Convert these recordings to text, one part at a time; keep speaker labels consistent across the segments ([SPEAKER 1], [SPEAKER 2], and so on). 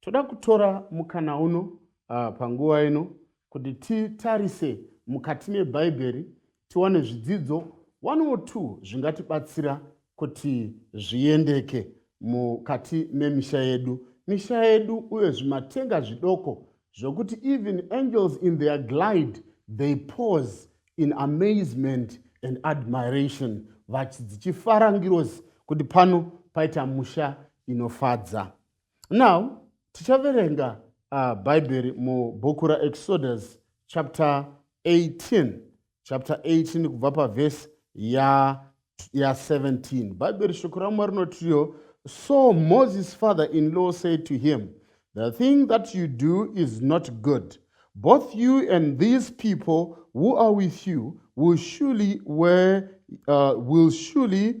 [SPEAKER 1] Toda kutora mukana uno uh, panguva ino kuti titarise mukati mebhaibheri tiwane zvidzidzo one or two zvingatibatsira kuti zviendeke mukati memisha yedu misha yedu uye zvimatenga zvidoko zvokuti even angels in their glide they pause in amazement and admiration vachidzichifara ngirozi kuti pano paita musha inofadza now tichaverenga uh, bhaibheri mubhuku raexodus chapter 18 chapter 18 kubva pavhesi ya, ya 17 bhaibheri shoko ramwari rinotiyo so moses father in law said to him the thing that you do is not good both you and these people who are with you will surely, where, uh, will surely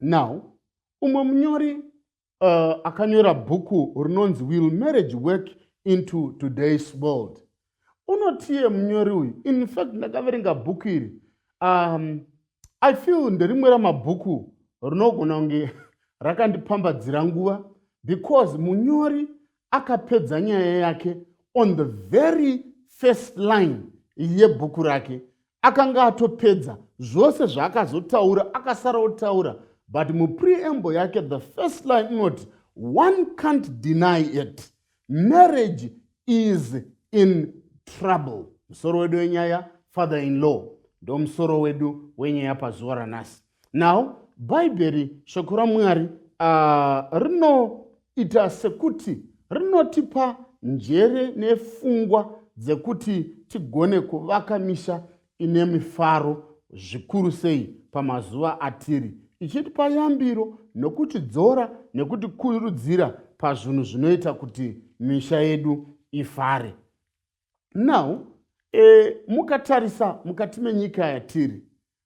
[SPEAKER 1] now umwe munyori uh, akanyora bhuku rinonzi will marriage work into today's world unotiye munyori uyu infact ndakaverenga bhuku iri um, i feel nderimwe ramabhuku rinogona kunge rakandipambadzira nguva because munyori akapedza nyaya yake on the very first line yebhuku rake akanga atopedza zvose zvaakazotaura akasara otaura but mupreamble yake the first line inoti one can't deny it marriage is in trouble musoro wedu wenyaya father in law ndomusoro wedu wenyaya pazuva ranhasi now bhaibheri shoko ramwari uh, rinoita sekuti rinotipa njere nefungwa dzekuti tigone kuvaka misha ine mifaro zvikuru sei pamazuva atiri ichitipa yambiro nokuti dzora nekuti kurudzira pazvinhu zvinoita kuti misha yedu ifare now e, mukatarisa mukati menyika yatiri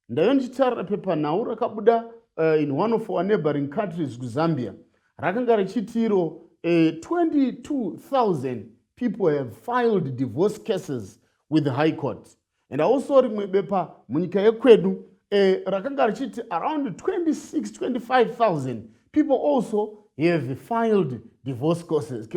[SPEAKER 1] Ndayo ndichitarira pepanhau rakabuda uh, in one of our neighboring countries kuzambia rakanga richitiro uh, eh, 22000 people have filed divorce cases with the high court and also rimwe bepa munyika yekwedu uh, rakanga richiti around 26 25000 people also have filed divorce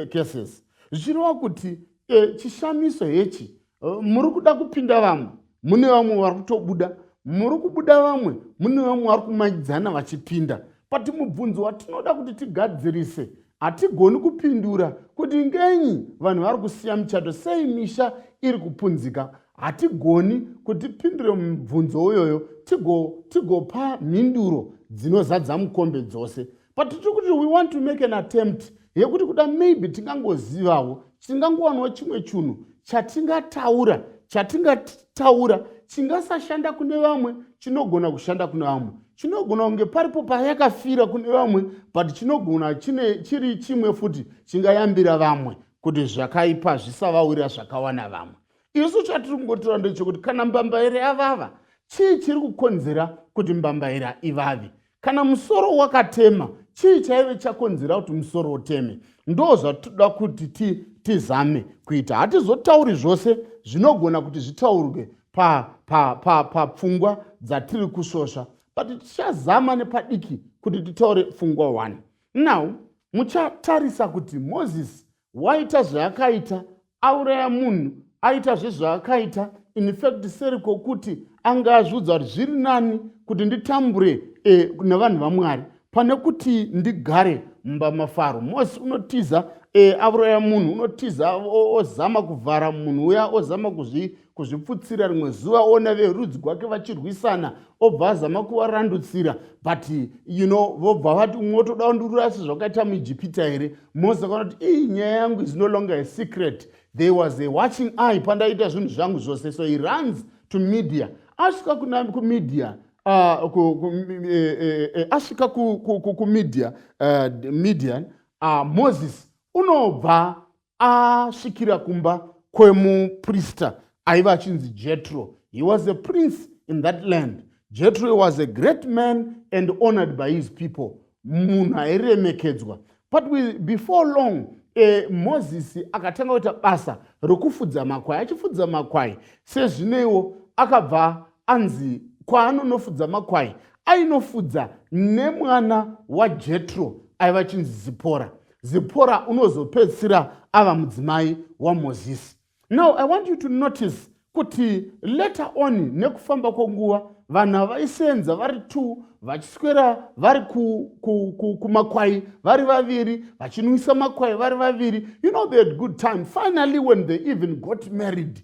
[SPEAKER 1] cases zvichireva kuti uh, chishamiso hechi muri kuda kupinda vamwe mune vamwe vari kutobuda muri kubuda vamwe mune vamwe vari kumayidzana vachipinda pati mubvunzo watinoda kuti tigadzirise hatigoni kupindura kuti ngenyi vanhu vari kusiya michato sei misha iri kupunzika hatigoni kuti pindure mubvunzo uyoyo tigopa tigo mhinduro dzinozadza mukombe dzose but tiri kuti we want to make an attempt yekuti kuda maybe tingangozivawo tingangowanawo chimwe chunhu chatingataura chatingataura chingasashanda kune vamwe chinogona kushanda kune vamwe chinogona kunge paripo payakafira kune vamwe but chinogona chine chiri chimwe futi chingayambira vamwe kuti zvakaipa zvisavawira zvakawana vamwe isu chatiri kungotora ndechekuti kana mbambaira yavava chii chiri kukonzera kuti mbambaira ivave kana musoro wakatema chii chaive chakonzera kuti musoro uteme ndo zvatoda kuti tizame ti kuita hatizotauri zvose zvinogona kuti zvitaurwe papfungwa pa, pa, pa dzatiri kusvosva but tichazama nepadiki kuti titaure pfungwa one now muchatarisa kuti moses waita zvaakaita auraya munhu aita zvezvaakaita infact seri kwokuti anga azviudza kuti zviri nani kuti nditambure e, nevanhu vamwari pane kuti ndigare mumba mafaro mose unotiza e, auraya munhu unotiza ozama kuvhara munhu uya ozama kuzvi kuzviputsira rimwe zuva ona verudzi gwake vachirwisana obva azama kuvarandutsira but you know vobva vati umwe otoda ndurura asi zvakaita muijipita here mose akaona kuti ii nyaya yangu is no longer a secret there was a watching eye pandaita zvinhu zvangu zvose so he runs to media asvika kuna kumedia ah, eh, eh, eh, asvika kumedia median ah, moses unobva asvikira kumba kwemuprista aiva achinzi jetro he was a prince in that land jetro was a great man and honored by his people munhu airemekedzwa but before long e, mozisi akatanga kuita basa rokufudza makwai achifudza makwai sezvineiwo akabva anzi kwaanonofudza makwai ainofudza nemwana wajetro aiva chinzi zipora zipora unozopedzisira ava mudzimai wamozisi now i want you to notice kuti later on nekufamba kwenguva vanhu vaisenza vari two vachiswera vari kumakwai ku, ku, vari vaviri vachinwisa makwai vari vaviri you know they had good time finally when they even got married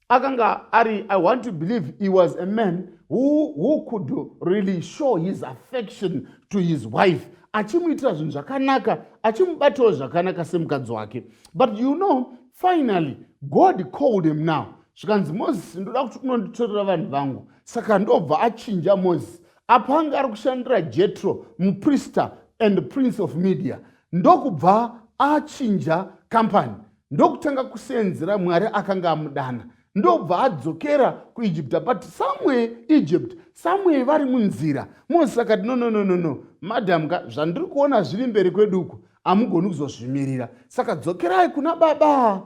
[SPEAKER 1] akanga ari i want to believe he was a man who, who could really show his affection to his wife achimuitira zvinhu zvakanaka achimubatawo zvakanaka semukadzi wake but you know finally god called him now zvikanzi moses ndoda kuti unonditorera vanhu vangu saka ndobva achinja moses apo anga ari kushandira jetro muprister and prince of media ndokubva achinja kampani ndokutanga kuseenzera mwari akanga amudana ndobva adzokera kuegipta but somewhere egypt somewhere vari munzira moses akati no no no no no madam ka zvandiri kuona zviri mberi kwedu uko hamugoni kuzozvimirira saka dzokerai kuna baba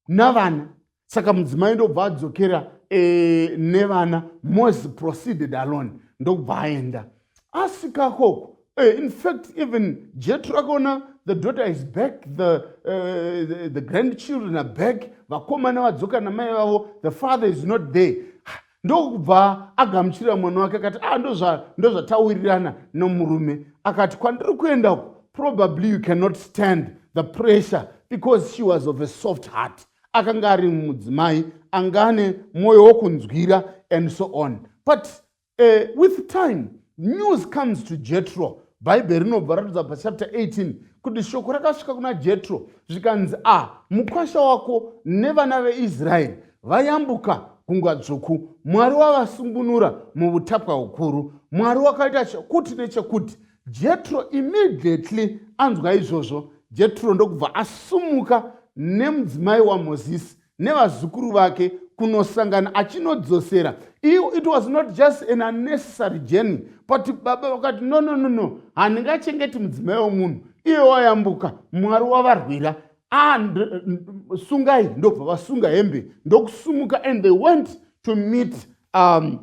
[SPEAKER 1] navana saka mudzimai ndobva adzokera e, nevana mos proceeded alone ndokubva aenda asika koko e, eh, infact even jetro akaona the daughter is back the, uh, the, the grandchildren are back vakomana vadzoka namai vavo the father is not there ndokubva agamuchirira mwana wake akati a ah, ndozvataurirana nomurume akati kwandiri kuenda uku probably you cannot stand the pressure because she was of a soft heart akanga ari mudzimai anga ane mwoyo wokunzwira and so on but uh, with time news comes to jetro bhaibheri rinobva ratidza pachapter 18 kuti shoko rakasvika kuna jetro zvikanzi a ah, mukwasha wako nevana veisraeri vayambuka gungwa dzvuku mwari wavasungunura muutapwa hukuru mwari wakaita chekuti nechekuti Jetro immediately anzwa izvozvo, Jetro ndokubva asumuka nemudzimai waMozisi nevazukuru vake kunosangana achinodzosera iyo it was not just an unnecessary journey but baba vakati no no no no handingachengeti mudzimai wemunhu iye wayambuka mwari wavarwira ah, sungai ndobva vasunga hembe ndokusumuka and they went to meet um,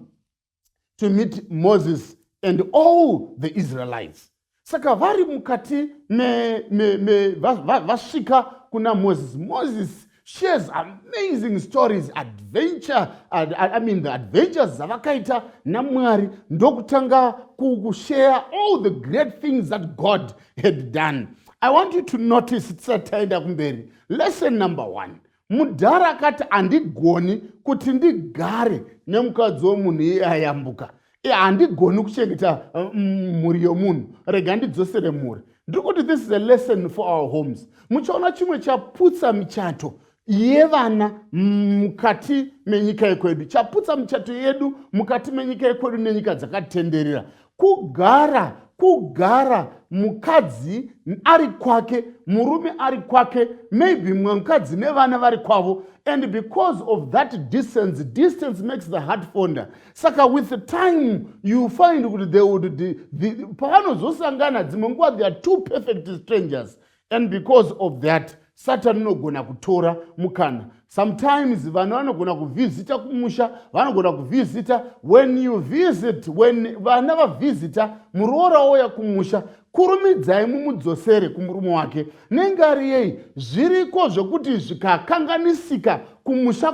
[SPEAKER 1] to meet moses and all the israelites saka vari mukati vasvika kuna moses moses shares amazing stories adventure i mean the adventures dzavakaita namwari ndokutanga kushare all the great things that god had done i want you to notice tisati taenda kumberi lesson number one mudhara akati handigoni kuti ndigare nemukadzi womunhu iye ayambuka e handigoni kuchengeta mm, mhuri yomunhu rega ndidzosere mhuri ndiri kuti this is a lesson for our homes muchaona chimwe chaputsa michato yevana mukati menyika yekwedu chaputsa michato yedu mukati menyika yekwedu nenyika dzakatitenderera kugara kugara mukadzi ari kwake murume ari kwake maybe mumwe mukadzi nevana vari kwavo and because of that distance distance makes the heart fonder saka with the time you find kuti they would pavanozosangana dzimwe nguva they are two perfect strangers and because of that satani unogona kutora mukana sometimes vanhu vanogona kuvhizita kumusha vanogona kuvhizita when you visit when vana vavhizita muroora ouya kumusha kurumidzai mumudzosere kumurume wake nenge ari yei zviriko zvekuti zvikakanganisika kumusha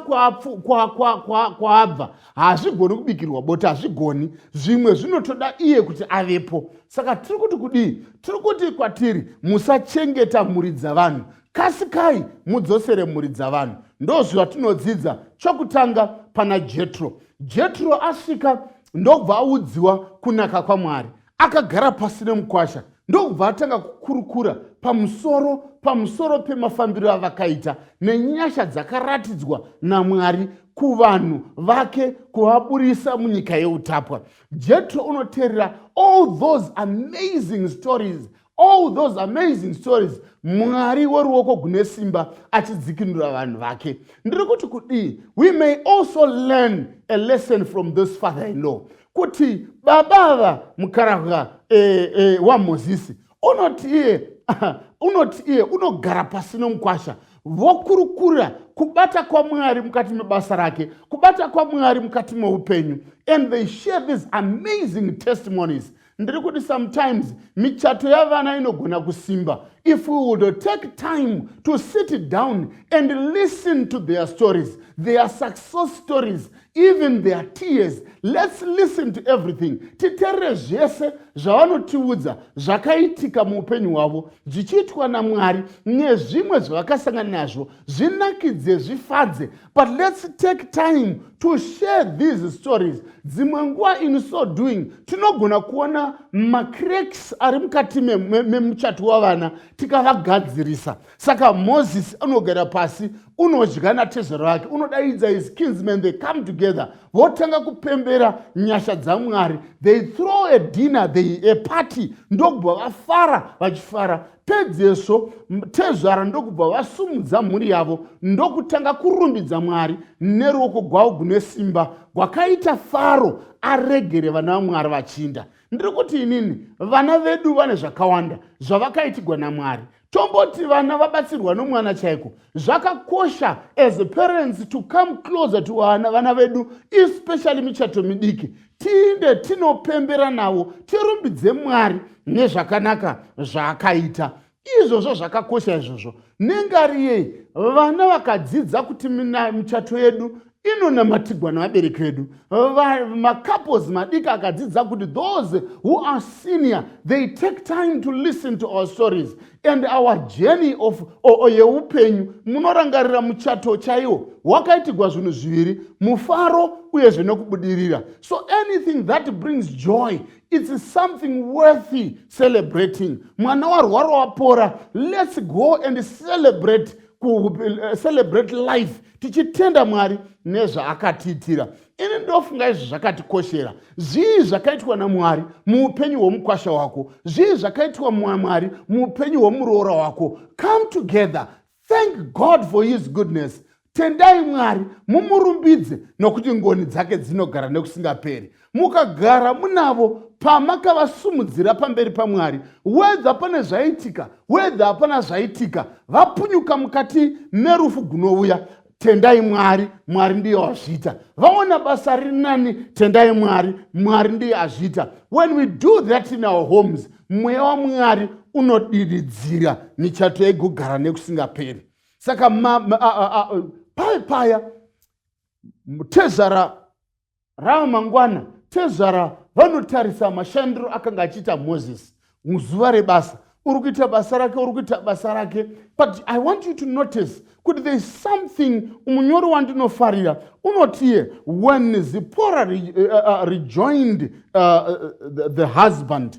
[SPEAKER 1] kwaabva hazvigoni kubikirwa bota hazvigoni zvimwe zvinotoda iye kuti avepo saka tiri kuti kudii tiri kuti kwatiri musachengeta mhuri dzavanhu kasikai mudzosere mhuri dzavanhu ndozvatinodzidza chokutanga pana jetro jetro asvika ndobva audziwa kunaka kwamwari Akagara pasi nemukwasha ndokubva atanga kukurukura pamusoro pamusoro pemafambiro avakaita nenyasha dzakaratidzwa namwari kuvanhu vake kuvaburisa munyika yeutapwa jetro unoteerera all those amazing stories all those amazing stories mwari woruoko gune simba achidzikinura vanhu vake ndiri kuti kudii we may also learn a lesson from this father in law kuti baba ava mukarahwa eh, eh, wamozisi unoti iye unoti iye unogara pasi nomukwasha vokurukura kubata kwamwari mukati mebasa rake kubata kwamwari mukati meupenyu and they share these amazing testimonies ndiri kuti sometimes michato yavana inogona kusimba if we would take time to sit down and listen to their stories their success stories even their tears let's listen to everything titerere zvese zvavanotiudza zvakaitika muupenyu hwavo zvichiitwa namwari nezvimwe zvavakasangana nazvo zvinakidze zvifadze but let's take time to share these stories dzimwe nguva in so doing tinogona kuona macracks ari mukati memuchato me, me wavana tikavagadzirisa saka moses anogara pasi unodya natezvero vake unodaidza his kinsman they come together votanga kupembera nyasha dzamwari they throw a dinner they a party ndokubva vafara vachifara Pedzezvo tezvara ndokubva vasumudza mhuri yavo ndokutanga kurumbidza Mwari neruoko gwavo gune simba gwakaita Faro aregere vana vaMwari vachinda. Ndiri kuti inini vana vedu vane zvakawanda zvavakaitigwa naMwari. Tomboti vana vabatsirwa nomwana chaiko. Zvakakosha as parents to come closer to vana vana vedu especially michato midiki tiinde tinopembera navo tirumbidze mwari nezvakanaka zvaakaita izvozvo zvakakosha izvozvo nengari yei vana vakadzidza kuti michato yedu inonamatigwa nevabereki vedu macouples madiki akadzidza kuti those who are senior they take time to listen to our stories and our journey of yeupenyu munorangarira muchato chaiwo wakaitigwa zvinhu zviviri mufaro uyezve nokubudirira so anything that brings joy its something worthy celebrating mwana warwara wapora let's go and celebrate eh, celebrate life tichitenda mwari nezvaakatiitira ini ndofunga izvi zvakatikoshera zvii zvakaitwa namwari muupenyu hwomukwasha wako zvii zvakaitwa mwamwari muupenyu hwomuroora wako come together thank god for his goodness tendai mwari mumurumbidze nokuti ngoni dzake dzinogara nekusingaperi mukagara munavo pamakavasumudzira pamberi pamwari wedha pane zvaitika wedha hapana zvaitika vapunyuka mukati merufu gunouya tendai mwari mwari ndiye wazviita vaona basa riri nani tendai mwari mwari ndiye azviita when we do that in our homes mweya wamwari unodiridzira michato yaigogara nekusingaperi saka paya paya tezvara Ramangwana, tezvara vanotarisa mashandiro akanga achiita Moses muzuva rebasa. Uri kuita basa rake, uri kuita basa rake. But I want you to notice kuti there is something munyori wandinofarira unotiye when Zipora re, uh, uh, uh, rejoined uh, uh, the, the husband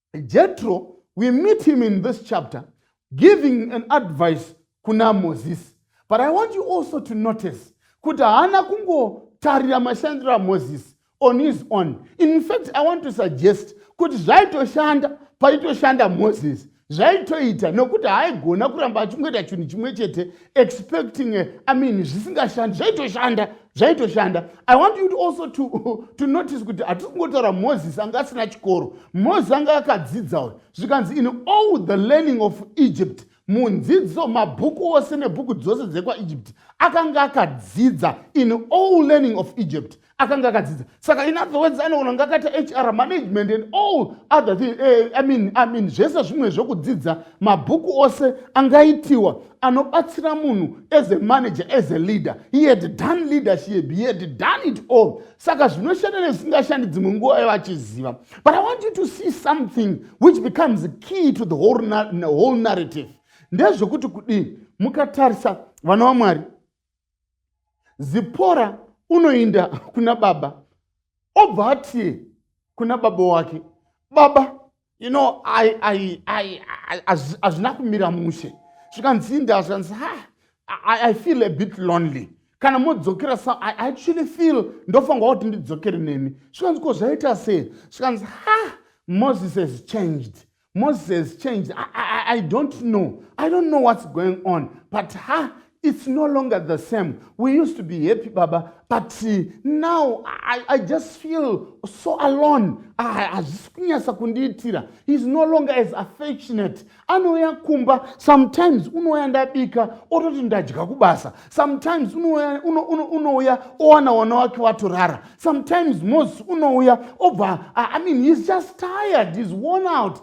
[SPEAKER 1] Jethro, we meet him in this chapter, giving an advice kuna Moses. But I want you also to notice kuti haana kungotarira mashandiro aMoses on his own. In fact, I want to suggest kuti zvaitoshanda paitoshanda Moses zvaitoita nokuti haaigona kuramba achingoita chinhu chimwe chete expecting I mean zvisingashandi zvaitoshanda zvaitoshanda i want you to also to, to notice kuti hatisi kungotaura moses anga asina chikoro moses anga akadzidza uyo zvikanzi in all the learning of egypt munzidzo mabhuku ose nebhuku dzose dzekwaegypt akanga akadzidza in all learning of egypt akanga akadzidza saka in other words anogona kunge akaita hr management and all other thing, eh, I mean, I mean, zvese zvimwe zvekudzidza mabhuku ose angaitiwa anobatsira munhu as a manager as a leader he had done leadership he had done it all saka zvinoshanda nezvisingashandi dzimwe nguva yava achiziva but i want you to see something which becomes key to the whole, na whole narrative ndezvekuti kudii mukatarisa vana vamwari zipora unoinda kuna baba obva ati kuna baba wake baba you know hazvina kumira mushe zvikanzi inda zvikanzi ha I, I feel a bit lonely kana modzokera sa I actually feel ndofanirwa kuti ndidzokere nemi zvikanzi ko zvaita sei zvikanzi ha moses has changed moses changed I, I, i don't know i don't know what's going on but ha it's no longer the same we used to be happy baba but uh, now I, i just feel so alone hazvisi kunyasa kundiitira heis no longer as affectionate anouya kumba sometimes unouya ndabika ototi ndadya kubasa sometimes unouya uno, uno, uno owana wana wake watorara sometimes moses unouya obva i mean he's just tired he's worn out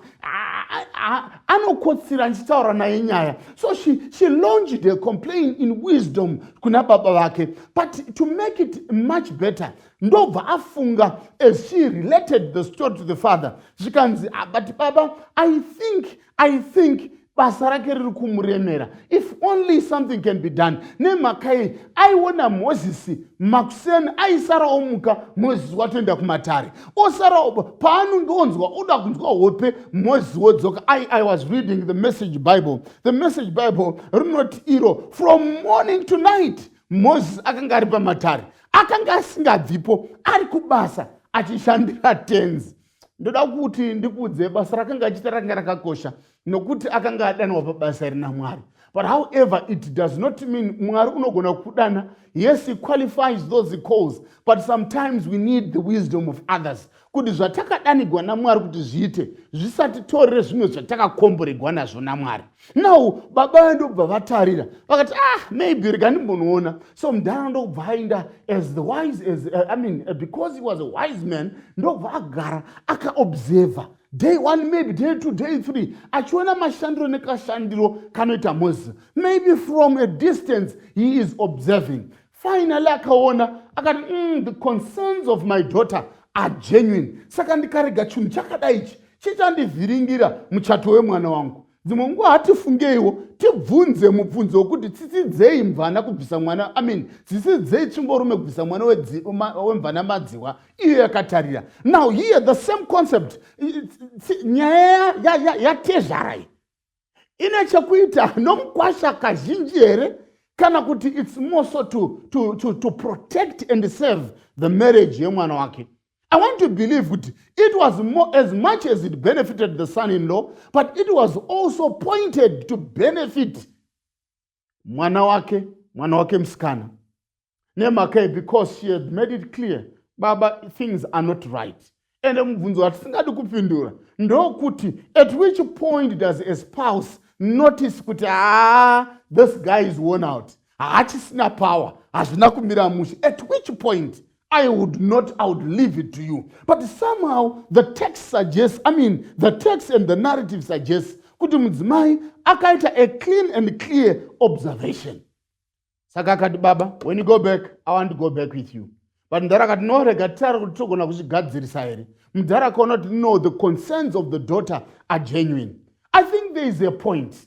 [SPEAKER 1] anokotsira ndichitaura naye nyaya so she, she launched a complain in wisdom kuna baba vake but to make it much better ndobva afunga as she related the story to the father zvikanzi ah, but baba i think i think basa rake riri kumuremera if only something can be done nemhaka yei aiona mozisi makuseni aisara omuka mozisi watoenda kumatare osara paanonge onzwa oda kunzwa hope mozisi wodzoka i, I was reading the message bible the message bible rinoti iro from morning to night mozisi akanga ari pamatare akanga asingabvipo ari kubasa achishandira tenzi ndoda kuti ndikuudze basa rakanga achiita rakanga rakakosha nokuti akanga adanwa pabasa iri namwari but however it does not mean mwari unogona kudana yes he qualifies those calls but sometimes we need the wisdom of others kuti zvatakadanigwa namwari kuti zviite zvisatitorere zvimwe zvatakakomboregwa nazvo namwari now baba vaye ndokubva vatarira vakati ah maybe rega ndimbonoona so mudhara ndokubva aenda as the wise as uh, i mean uh, because he was a wise man ndokubva agara akaobserver day one maybe day two day three achiona mashandiro nekashandiro kanoita moses maybe from a distance he is observing finally akaona akati mm, the concerns of my daughter are genuine saka ndikarega chinhu chakadai ichi chichandivhiringira muchato wemwana wangu dzimwe nguva hatifungeiwo tibvunze mubvunzo wekuti tsisidzei mvana kubvisa mwana amin tsisidzei tsvimborume kubvisa mwana wemvana madziwa iyo yakatarira now here the same concept nyaya yatezvarai ine chekuita nomukwasha kazhinji here kana kuti its moreso to, to, to, to protect and serve the marriage yemwana wake i want to believe kuti it was more, as much as it benefited the son in law but it was also pointed to benefit mwana wake mwana wake musikana nemhaka because she had made it clear baba things are not right ende mubvunzo watisingadi kupindura ndokuti at which point does a spouse notice kuti haa this guy is worn out haachisina power hazvina kumira mushe at which point I would not, I would leave it to you. But somehow the text suggests, I mean, the text and the narrative suggests kuti mudzimai akaita a clean and clear observation. Saka akati baba, when you go back, I want to go back with you. But mdhara akati no, rega titare kuti togona kuzvigadzirisa here. Mdhara akaona kuti no, the concerns of the daughter are genuine. I think there is a point.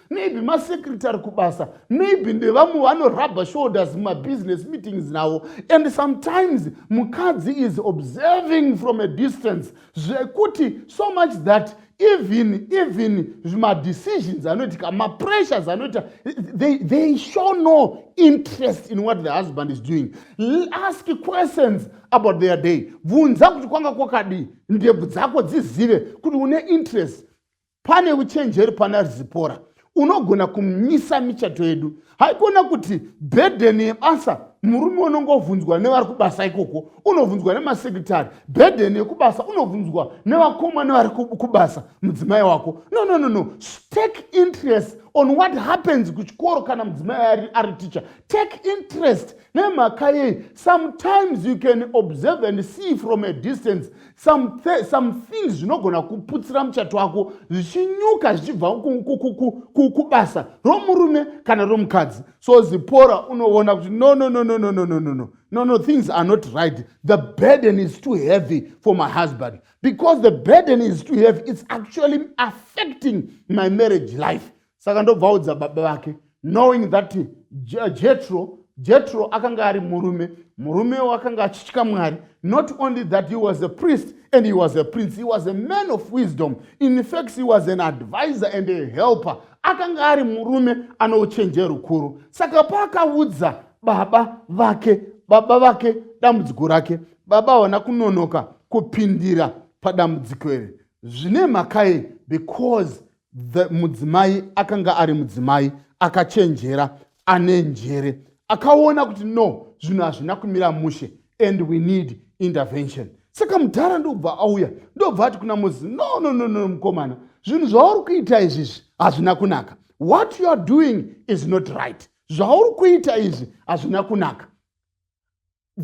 [SPEAKER 1] maybe masecretary kubasa maybe ndevamwe vanorubber shoulders mumabusiness meetings navo and sometimes mukadzi is observing from a distance zvekuti so much that even even madecisions anoitika mapressures anoita they, they show no interest in what the husband is doing ask questions about their day bvunza kuti kwanga kwakadii ndebvu dzako dzizive kuti une interest pane uchenjeri pana rizipora unogona kumisa michato yedu haikona kuti bhedheni yebasa murume unongovhunzwa nevari kubasa ikoko unovhunzwa nemasekretari bhedheni yekubasa unovhunzwa nevakoma nevari kubasa mudzimai wako no no no no take interest on what happens kuchikoro kana mudzimai ari, ari teacher take interest nemhaka yei sometimes you can observe and see from a distance some, th some things zvinogona kuputsira muchato wako zvichinyuka zvichibva kubasa romurume kana romukadzi so zipora unoona kuti no no no no no no no no no no no things are not right the burden is too heavy for my husband because the burden is too heavy it's actually affecting my marriage life saka ndobvaudza baba vake knowing that jetro jetro akanga ari murume murumewo akanga achitya mwari not only that he was a priest and he was a prince he was a man of wisdom in fact he was an advisor and a helper akanga ari murume ano uchenje rukuru saka paakaudza baba vake baba vake dambudziko rake baba haona kunonoka kupindira padambudziko iri zvine mhaka iyi because the mudzimai akanga ari mudzimai akachenjera ane njere akaona kuti no zvinhu hazvina kumira mushe and we need intervention saka mudhara ndobva auya ndobva ati kuna mozi no no no no mukomana zvinhu zvauri kuita izvizvi hazvina kunaka what you are doing is not right zvauri kuita izvi hazvina kunaka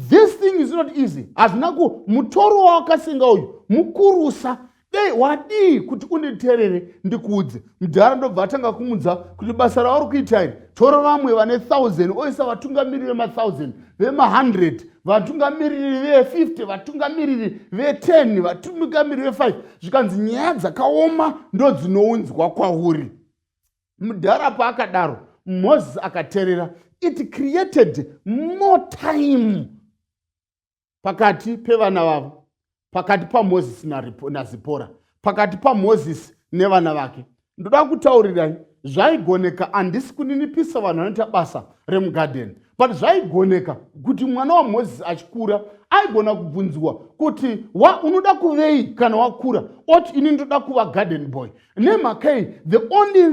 [SPEAKER 1] this thing is not easy hazvina ku mutoro wawakasenga uyu mukurusa dei wadii kuti unditerere ndikuudze mudhara ndobva atanga kumudza kuti basa rauri kuita iri tora vamwe vane 1000 oisa vatungamiriri vema1000 vema100 vatungamiriri ve50 vatungamiriri ve10 vatungamiriri ve5 zvikanzi nyaya dzakaoma ndodzinounzwa kwauri mudhara paakadaro moses akaterera it created more time pakati pevana vavo pakati pamoses nazipora pakati pamoses nevana vake ndoda kutaurirai zvaigoneka handisi kuninipisa vanhu vanoita basa remugadheni but zvaigoneka kuti mwana wamoses achikura aigona kubvunziwa kuti wa unoda kuvei kana wakura oti ini ndoda kuva garden boy nemhakei the only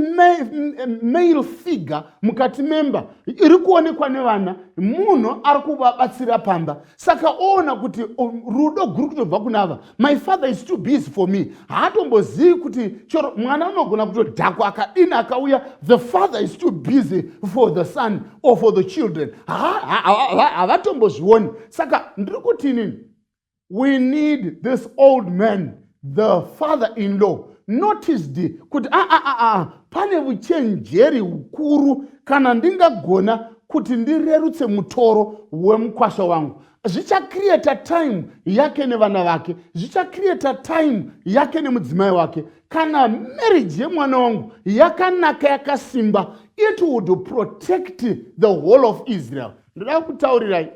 [SPEAKER 1] male figure mukati memba iri kuonekwa nevana munhu ari kuvabatsira pamba saka oona kuti um, rudo guru kutobva kuna ava my father is too busy for me haatombozivi kuti chero mwana unogona kutodhakwa akadini akauya the father is too busy for the son or for the children havatombozvioni saka ndiri kuti inini we need this old man the father in law noticed kuti aa ah, ah, ah, pane vuchenjeri hukuru kana ndingagona kuti ndirerutse mutoro wemukwasha wangu zvichacreata time yake nevana vake zvichacreata time yake nemudzimai wake kana marriage yemwana wangu yakanaka yakasimba it would protect the whole of israel ndoda kutaurirai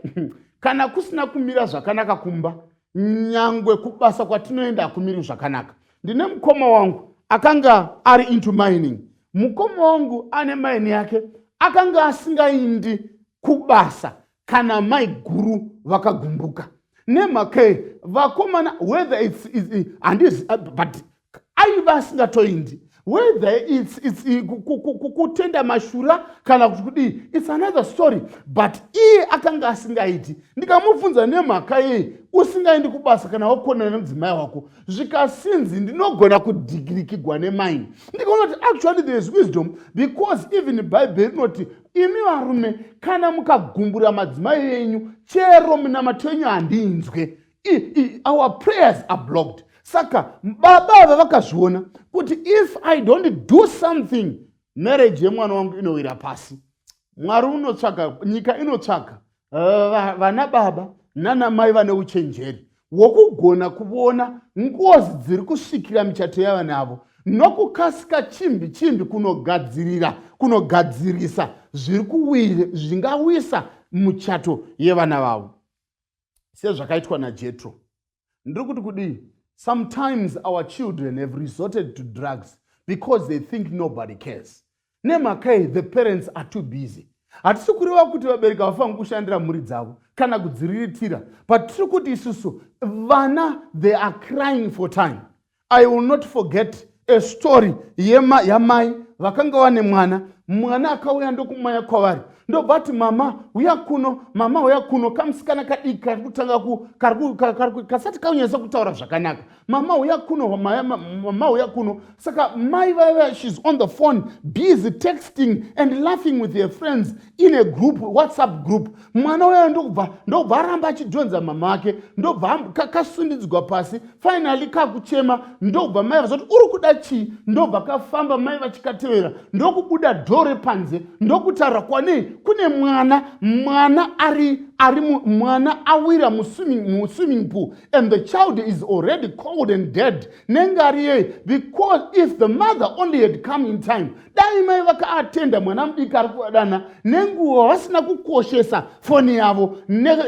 [SPEAKER 1] Kana kusina kumira zvakanaka kumba, nyangwe kubasa kwatinoenda hakumiri zvakanaka. Ndine mukoma wangu akanga ari into mining. Mukoma wangu ane maini yake akanga asingaindi kubasa kana maiguru vakagumbuka. Nemhakei vakomana whether it's, it's, it's, uh, but aiva asingatoindi whether it's, it's, kutenda mashura kana kuti kudii its another story but iye akanga asingaiti ndikamubvunza nemhaka yei usingaendi kubasa kana wakonana nemudzimai wako zvikasinzi ndinogona kudhigirikigwa nemaini ndikaona kuti actually there is wisdom because even bhaibheri rinoti imi varume kana mukagumbura madzimai enyu chero munamato enyu handinzwe I, I, our prayers are blocked saka baba ava vakazviona kuti if i don't do something marriage yemwana wangu inowira pasi mwari unotsvaka nyika inotsvaka uh, vana baba nana mai vane uchenjeri wokugona kuvona ngozi dziri kusvikira michato yavana avo nokukasika chimbi chimbi kunogadzirira kunogadzirisa zviri kuwire zvingawisa muchato yevana vavo sezvakaitwa najetro ndiri kuti kudii sometimes our children have resorted to drugs because they think nobody cares nemhakai the parents are too busy hatisi kureva kuti vabereki havafangi kushandira mhuri dzavo kana kudziriritira but tiri kuti isusu vana they are crying for time i will not forget a story yema yamai vakanga vane mwana mwana akauya ndokumaya kwavari ndobva ati mama uya kuno mama uya kuno kamusikana kadiki kari kutanga kasati kaunyasa kutaura zvakanaka mama uya kuno mama uya kuno saka mai vaiva shes on the phone busy texting and laughing with her friends in a group whatsapp group mwana uya ndokubva ndokubva aramba achidhonza mama vake ndokubva kasundidzwa pasi finally kakuchema ndokubva mai vazoti uri kuda chii ndokubva kafamba mai vachikatevera ndokubuda dhore panze ndokutaura kwanei kune mwana mwana ari ari mwana awira muswimming pool and the child is already cold and dead nenge ari yei because if the mother only had come in time dai mai vakaatenda mwana mudiki ari kuvadana nenguva vasina kukoshesa foni yavo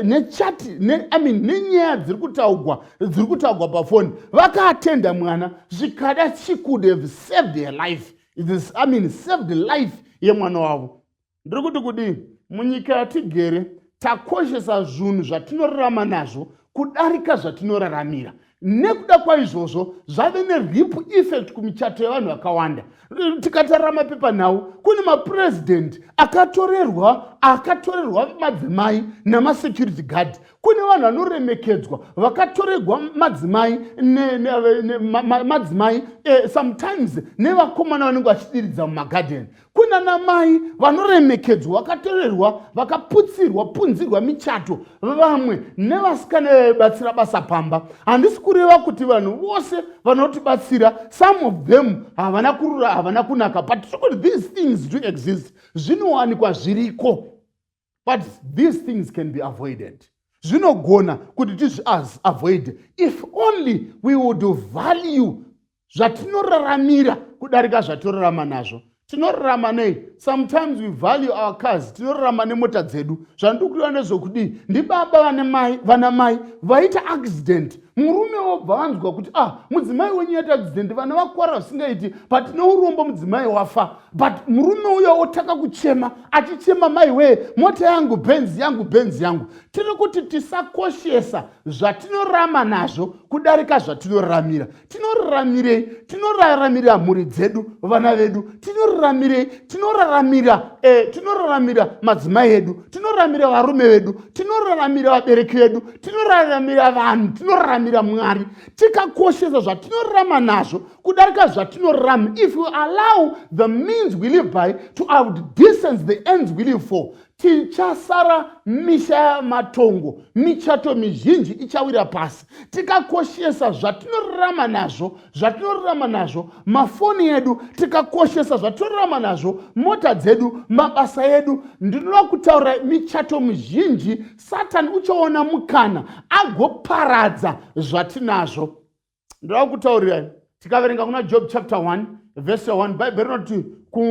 [SPEAKER 1] nechati imean nenyaya dziri kutaugwa dziri kutaugwa pafoni vakaatenda mwana zvikada she could have saved her life imean saved life yemwana wavo ndiri kuti kudii munyika yatigere takoshesa zvinhu zvatinorarama nazvo kudarika zvatinoraramira nekuda kwaizvozvo zvave neripple effect kumichato yevanhu vakawanda tikatarira mapepanhau kune mapurezidhendi akatorerwa akatorerwa madzimai namasecurity guard kune vanhu vanoremekedzwa vakatoregwa madzimai madzimai eh, sometimes nevakomana vanenge vachidiridza mumagadheni kuna namai vanoremekedzwa vakatorerwa vakaputsirwa punzirwa michato vamwe nevasikana vaibatsira basa pamba handisi kureva kuti vanhu vose vanotibatsira some of them havana kurura havana kunaka but tiri kuti these things do exist zvinowanikwa zviriko but these things can be avoided zvinogona kuti tizviavoide if only we would value zvatinoraramira kudarika zvatorarama nazvo tinorarama nei sometimes we value our cars tinorarama nemota dzedu zvandikuiwa nezvokudii ndibaba vana mai vaita accident murume wobva anzwa kuti ah mudzimai wenyu yaita accident vana vakwara zvisingaiti but neurombo mudzimai wafa but murume uya wotanga kuchema achichema mai wee mota yangu benzi yangu benzi yangu tiri kuti tisakoshesa zvatinorama nazvo kudarika zvatinoramira tinoramirei tinoraramira mhuri dzedu vana vedu tinoramirei tinoraramira eh, tinoraramira madzimai edu tinoramira varume vedu tinoraramira vabereki vedu tinoraramira vanhu tinoraramira mwari tikakoshesa zvatinorarama nazvo kudarika zvatinorarama if you allow the means we live by to outdistance the ends we live for tichasara misha yamatongo michato mizhinji ichawira pasi tikakoshesa zvatinorarama nazvo zvatinorarama nazvo mafoni edu tikakoshesa zvatinorarama nazvo mota dzedu mabasa edu ndinoda kutaura michato mizhinji satani uchaona mukana agoparadza zvatinazvo ndoda kutaurirai tikaverenga kuna job chapter 1 vhesi 1 bhaibheri rinoti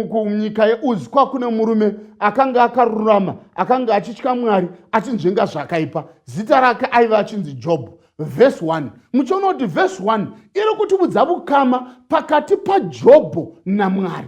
[SPEAKER 1] kunyika yeuzi kwakune murume akanga akarurama akanga achitya mwari achinzvenga zvakaipa zita rake aiva achinzi job vhesi 1 muchiona kuti vhesi 1 iri kutibudza vukama pakati pajobho namwari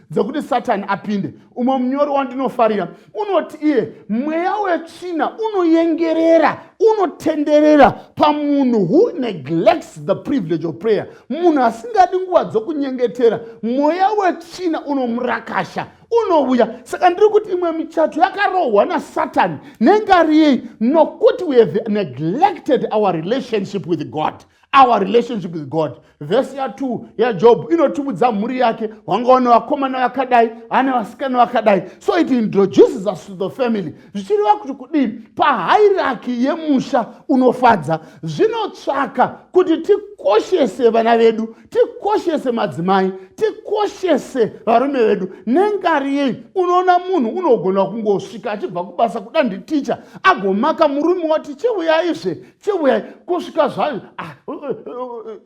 [SPEAKER 1] dzekuti satani apinde umwe munyori wandinofarira unoti iye mweya wetsvina unoyengerera unotenderera pamunhu who neglects the privilege of prayer munhu asingadi nguva dzokunyengetera mweya wetsvina unomurakasha unouya saka ndiri kuti imwe michato yakarohwa nasatani nengariyei nokuti we have neglected our relationship with god our relationship with god vhesi ya2 yajob inotumudza mhuri yake wangawa nevakomana vakadai ane vasikana vakadai so it introduces us to the family zvichireva kuti kudii pahairaki yemusha unofadza zvinotsvaka kuti tikoshese vana vedu tikoshese madzimai tikoshese varume vedu nengari yei unoona munhu unogona kungosvika achibva kubasa kuda nditicha agomaka murume wati chiuyaizve chiuya kusvika zvayo ah, uh, uh, uh,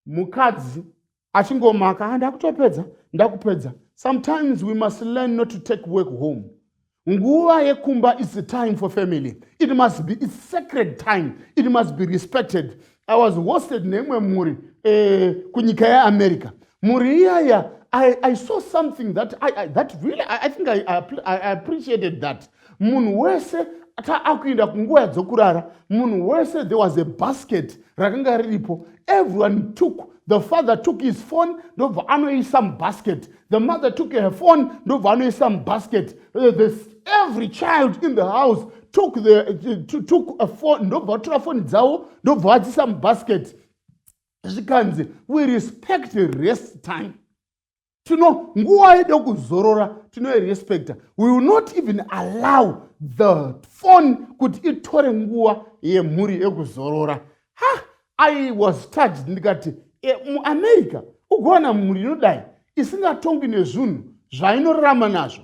[SPEAKER 1] mukadzi achingomaka ah, ndakutopedza ndakupedza sometimes we must learn not to take work home nguva yekumba is the time for family it must be its sacred time it must be respected I was hosted neimwe mhuri eh, kunyika yeAmerica. Mhuri iyaya I, I saw something that I, I, that really I, I think I, I, I appreciated that. Munhu wese ta akuenda kunguva dzokurara munhu wese there was a basket rakanga riripo everyone took the father took his phone ndobva anoisa mubasket the mother took her phone ndobva anoisa mubasket uh, every child in the house took the to, took a phone ndobva vatora foni dzavo ndobva vadzisa mubasket zvikanzi we respect rest time tino nguva yedo kuzorora tinoirespecta we will not even allow the phone kuti itore nguva yemhuri yekuzorora ha i was touched ndikati e, muamerica ugowana mhuri inodai isingatongwi nezvunhu zvainorarama nazvo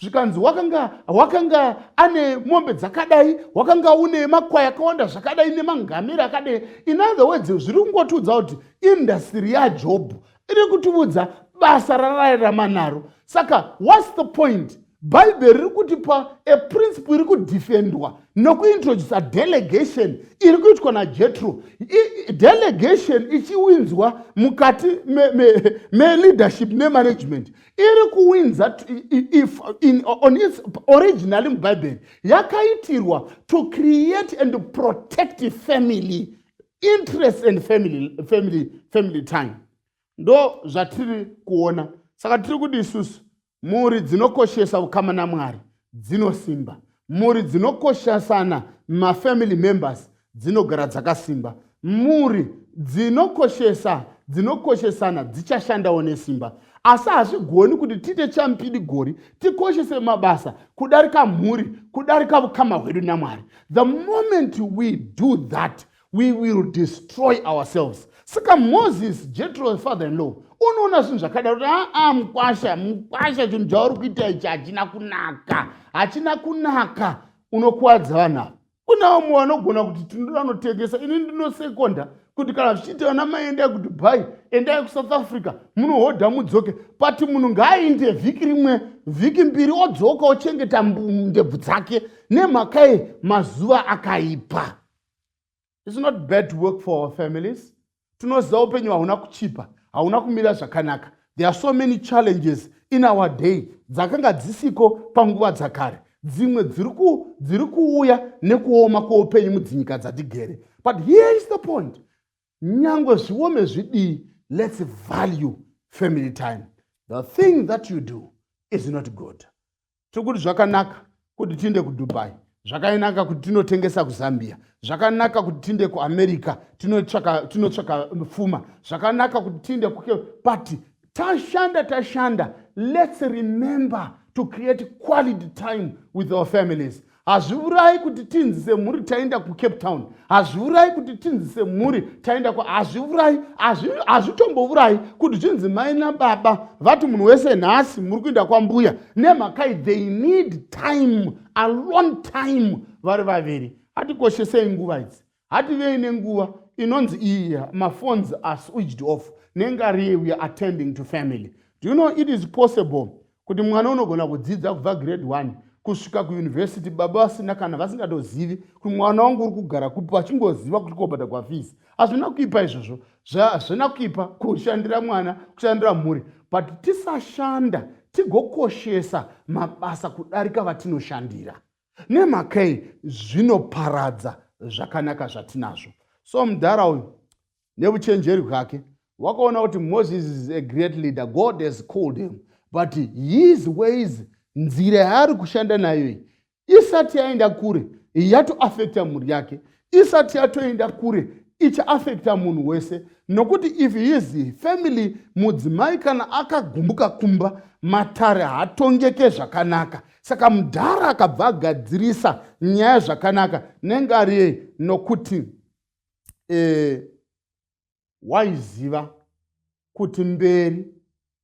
[SPEAKER 1] zvikanzi wakanga wakanga ane mombe dzakadai wakanga une makwai akawanda zvakadai nemangamera akadai in other words zviri kungotiudza kuti indastiri yajobho iri kutiudza basa rarairama naro saka whats the point bhaibheri riri kutipa a principle iri kudefendwa nokuintroduce delegation iri kuitwa najetro delegation ichiwinzwa mukati meleadership me, me nemanagement iri kuwinza if in, on its originally mubhaibheri yakaitirwa to create and protect family interest and family, family, family time ndo zvatiri kuona saka tiri kuti isusu mhuri dzinokoshesa ukama namwari dzinosimba mhuri dzinokoshasana mafamily members dzinogara dzakasimba mhuri dzinokoshesa dzinokoshesana dzichashandawo nesimba asi hazvigoni kuti tiite champidi gori tikoshese mabasa kudarika mhuri kudarika vukama hwedu namwari the moment we do that we will destroy ourselves saka moses jetro the father in law unoona zvinhu zvakadaro kuti aa ah, ah, mukwasha mukwasha chinhu chauri kuita ichi hachina kunaka hachina kunaka unokuwadza vanhu ava kuna vamwe vanogona kuti tinoda vanotengesa ini ndinosekonda kuti kana zvichiita vana mai endai kudubai endai kusouth africa munohodha mudzoke but munhu ngaainde vhiki rimwe vhiki mbiri odzoka ochengeta ndebvu dzake nemhaka ye mazuva akaipa It's not bad to work for our families. Tunoziva upenyu hauna kuchipa, hauna kumira zvakanaka. There are so many challenges in our day dzakanga dzisiko panguva dzakare. Dzimwe dziri kuuya nekuoma kweupenyu mudzinyika dzatigere. But here is the point. nyangwe zviome zvidii let's value family time the thing that you do is not good tiri kuti zvakanaka kuti tiinde kudubai zvakainaka kuti tinotengesa kuzambia zvakanaka kuti tiinde kuamerica tinotsvaka fuma zvakanaka kuti tiinde kuke pati tashanda tashanda let's remember to create quality time with our families hazviurayi kuti tinzi semhuri taenda kucape town hazviurayi kuti tinzi semhuri taenda ku hazviurayi hazvitombourayi kuti zvinzi mai nababa vati munhu wese nhasi muri kuenda kwambuya nemhakai they need time alone time vari vaviri atikoshesei nguva idzi hativei nenguva inonzi iyi maphones are switched off nengari we are attending to family do you know it is possible kuti mwana unogona kudzidza kubva grade one kusvika kuuniversity baba vasina kana vasingatozivi kuti mwana wangu uri kugara kupi vachingoziva kuti kobata kwafisi hazvina kuipa izvozvo hazvina kuipa kushandira mwana kushandira mhuri but tisashanda tigokoshesa mabasa kudarika vatinoshandira nemhakei zvinoparadza zvakanaka zvatinazvo so mudhara uyu nevuchenjeri hwake wakaona kuti moses is a great leader god has called him but his ways nzira yaari kushanda nayo iyi isati yaenda kure yatoafekta mhuri yake isati yatoenda kure ichaafekta munhu wese nokuti if his family mudzimai kana akagumbuka kumba matare hatongeke zvakanaka saka mudhara akabva agadzirisa nyaya zvakanaka nengariye nokuti eh, waiziva kuti mberi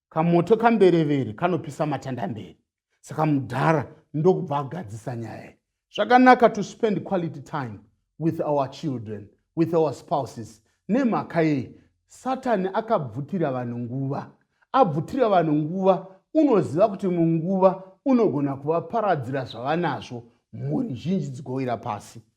[SPEAKER 1] kamoto kamberevere kanopisa matanda mberi saka mudhara ndokubva agadzisa nyaya iyi zvakanaka to spend quality time with our children with our spouses nemhaka yei satani akabvutira vanhu nguva abvutira vanhu nguva unoziva kuti munguva unogona kuvaparadzira zvavanazvo mhuri zhinji dzigowira pasi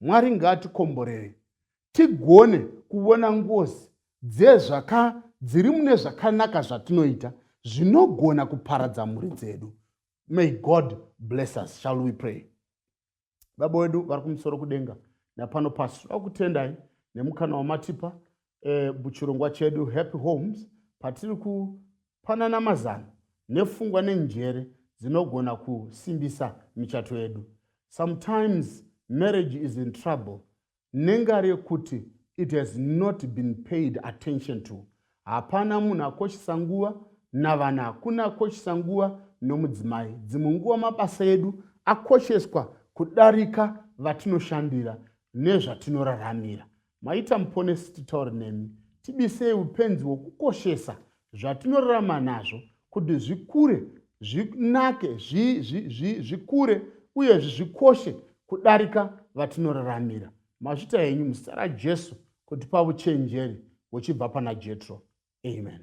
[SPEAKER 1] mwari ngaatikomborere tigone kuvona ngozi dzezvaka dziri mune zvakanaka zvatinoita zvinogona kuparadza mhuri dzedu may god bless us shall we pray baba wedu vari kumusoro kudenga napano pasi tinoda kutendai nemukana wamatipa eh, muchirongwa chedu happy homes patiri kupanana mazano nefungwa nenjere dzinogona kusimbisa michato yedu sometimes marriage is in trouble nengari yekuti it has not been paid attention to hapana munhu akoshesa nguva navana hakuna akoshesa nguva nomudzimai dzimwe nguva mabasa edu akosheswa kudarika vatinoshandira nezvatinoraramira Maita muponesi titaure nemi tibisei upenzi hwekukoshesa zvatinorarama nazvo kuti zvikure zvinake zvikure uye zvikoshe kudarika vatinoraramira mazvita henyu muzita rajesu kutipa uchenjeri huchibva pana jetro amen